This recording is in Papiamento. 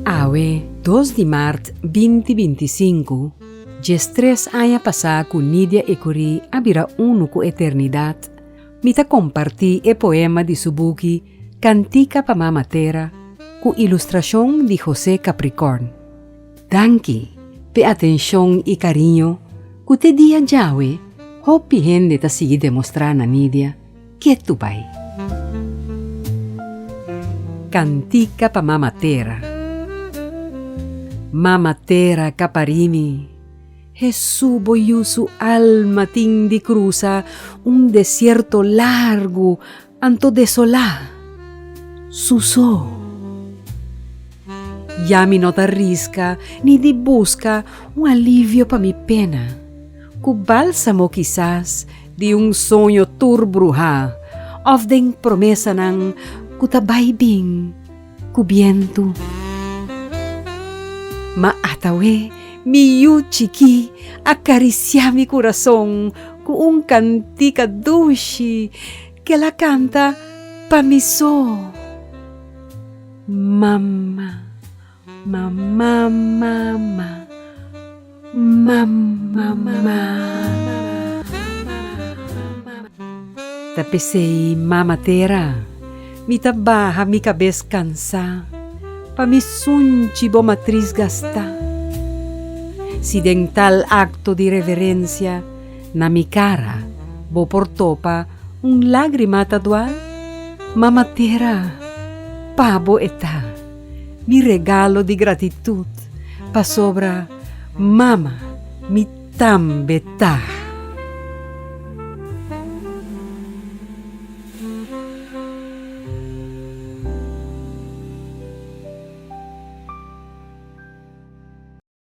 Awe, dos di mart binti binti i sinku, djes tres aña pasá ku Nidia Ecury a bira unu ku eternidat, mi ta kompartí e poema di su buki Cantica pa Mama Tera ku ilustrashon di José Capricorn. Danki p'e atenshon i kariño ku te dia djawe hopi hende ta sigui demostrá na Nidia. Ke tu bai? Kantika pa Mama Tera. Mama Tera ka pari mi. Hesu bo yusu alma tin di krusa un desierto largu anto desola. Suso. Ya mi no ta riska ni di buska un alivio pa mi pena. Ku balsamo kisas. di un soño tur bruhá òf den promesanan ku ta bai bin ku bientu. Ma atawé mi yu chikí a karisiá mi kurason ku un kantika dushi ku el a kanta pa mi so, Mama. Ta p'esei, Mama Tera, mi ta baha mi kabes kansá pa mi sunchi bo matris gastá. Si den tal akto di reverensia na mi kara bo por topa un lágrima ta dual, Mama Tera, pabo e ta. Mi regalo di gratitut pasobra Mama mi tambe ta.